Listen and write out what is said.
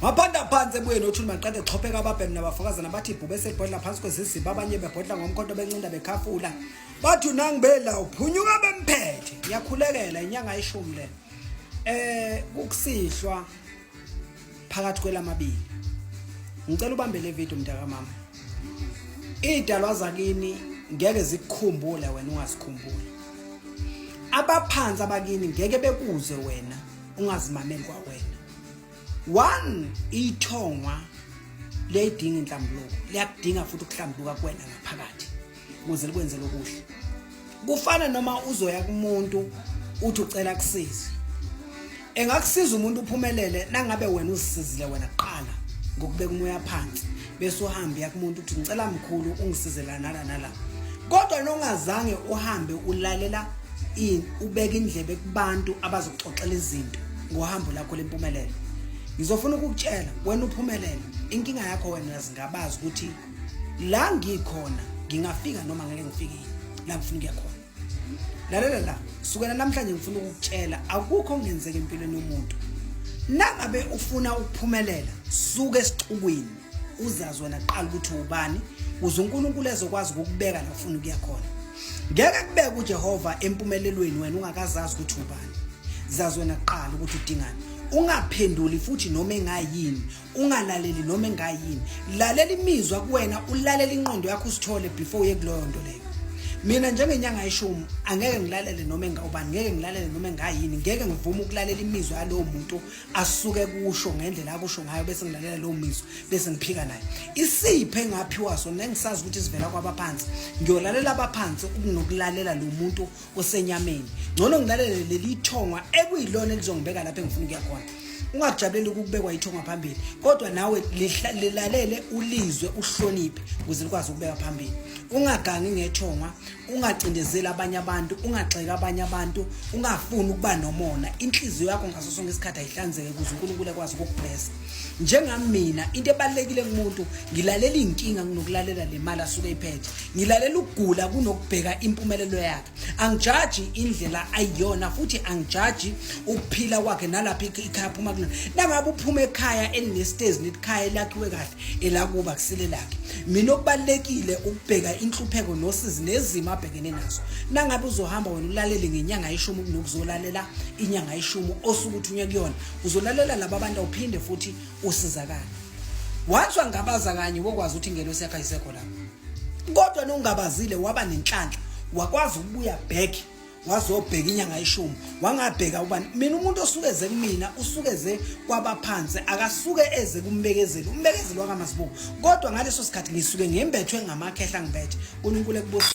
Maphanda phansi ebuyeni othuli maqede xopheka ababhemi nabafakazana bathi ibhube sebhodla phansi kweziziba abanye bebhodla ngomkhonto bencinda bekhafula bathi unangibela uphunyuka bemphethe iyakhulekela inyanga ishumi le eh kukusihlwa phakathi kwelamabili ngicela ubambe le video mntaka mama idalwa zakini ngeke zikukhumbule wena ungasikhumbuli abaphansi abakini ngeke bekuze wena ungazimameli kwawena one ithongwa liyayidinga inhlambuluko liyakudinga futhi ukuhlambuka kuwena ngaphakathi ukuze likwenzele okuhle kufana noma uzoya kumuntu uthi ucela kusiza Engakusiza umuntu uphumelele nangabe wena uzisizile wena kuqala ngokubeka umoya phansi bese uhambe yakumuntu ukuthi ngicela mkhulu ungisizela nala nala. Kodwa nongazange uhambe ulalela in ubeka indlebe kubantu abazoxoxela izinto ngohambo lakho lempumelelo. Ngizofuna ukukutshela wena uphumelele inkinga yakho wena zingabazi ukuthi la ngikhona ngingafika noma ngeke ngifike la ngifuna ukuya khona. lalela la sukela namhlanje ngifuna ukukutshela akukho ongenzeka empilweni yomuntu nangabe ufuna ukuphumelela suke esixukwini uzazi wena kuqala ukuthi ubani uze uNkulunkulu ezokwazi ukukubeka la ufuna ukuya khona ngeke kubeke uJehova empumelelweni wena ungakazazi ukuthi ubani zazi wena kuqala ukuthi udingani ungaphenduli futhi noma engayini ungalaleli noma engayini lalela imizwa kuwena ulalela inqondo yakho usithole before uye kuloyo nto leyo mina njengenyanga yeshumi angeke ngilalele noma engawubani ngeke ngilalele noma engayini ngeke ngivume ukulalela imizwa yalowo muntu asuke kusho ngendlela akusho ngayo bese ngilalela lowo mizwa bese ngiphika naye isiphe engaphiwa sona engisazi ukuthi sivela kwabaphansi ngiyolalela abaphansi ukunokulalela lo muntu kusenyameni ngcono ngilalele leli ithongwa ekuyilona elizongibeka lapho engifuna ukuya khona ungakujabuleli ukubekwa ithongwa phambili kodwa nawe lilalele ulizwe uhloniphe ukuze likwazi ukubeka phambili ungagangi ngethongwa ungacindezeli abanye abantu ungagxeki abanye abantu ungafuni ukuba nomona inhliziyo yakho ngaso sonke isikhathi ayihlanzeke ukuze unkulunkulu ekwazi ukukublesa njengami mina into ebalekile kumuntu ngilalela inkinga kunokulalela le mali asuke iphethe ngilalela ukugula kunokubheka impumelelo yakhe angijaji indlela ayiyona futhi angijaji ukuphila kwakhe nalapha ikhaya phuma kuna nangabe uphuma ekhaya elinestezi netikhaya elakhiwe kahle elakuba kusile lakhe mina okubalekile ukubheka inhlupheko nosizi nezimo abhekene nazo nangabe uzohamba wena ulalele ngenyanga yeshumi kunokuzolalela inyanga yeshumi osukuthi unye kuyona uzolalela laba bantu awuphinde futhi usizakale once wangabaza kanye wokwazi ukuthi ingelosi yakho ayisekho lapho kodwa nongabazile waba nenhlanhla wakwazi ukubuya back wazobheka inyanga ishumi wangabheka ubani mina umuntu osuke eze kumina usuke eze kwabaphansi akasuke eze kumbekezeli umbekezeli wakamazibuko kodwa ngaleso sikhathi ngisuke ngembethwe ngamakhehla ngibethe uNkulunkulu ekubusisa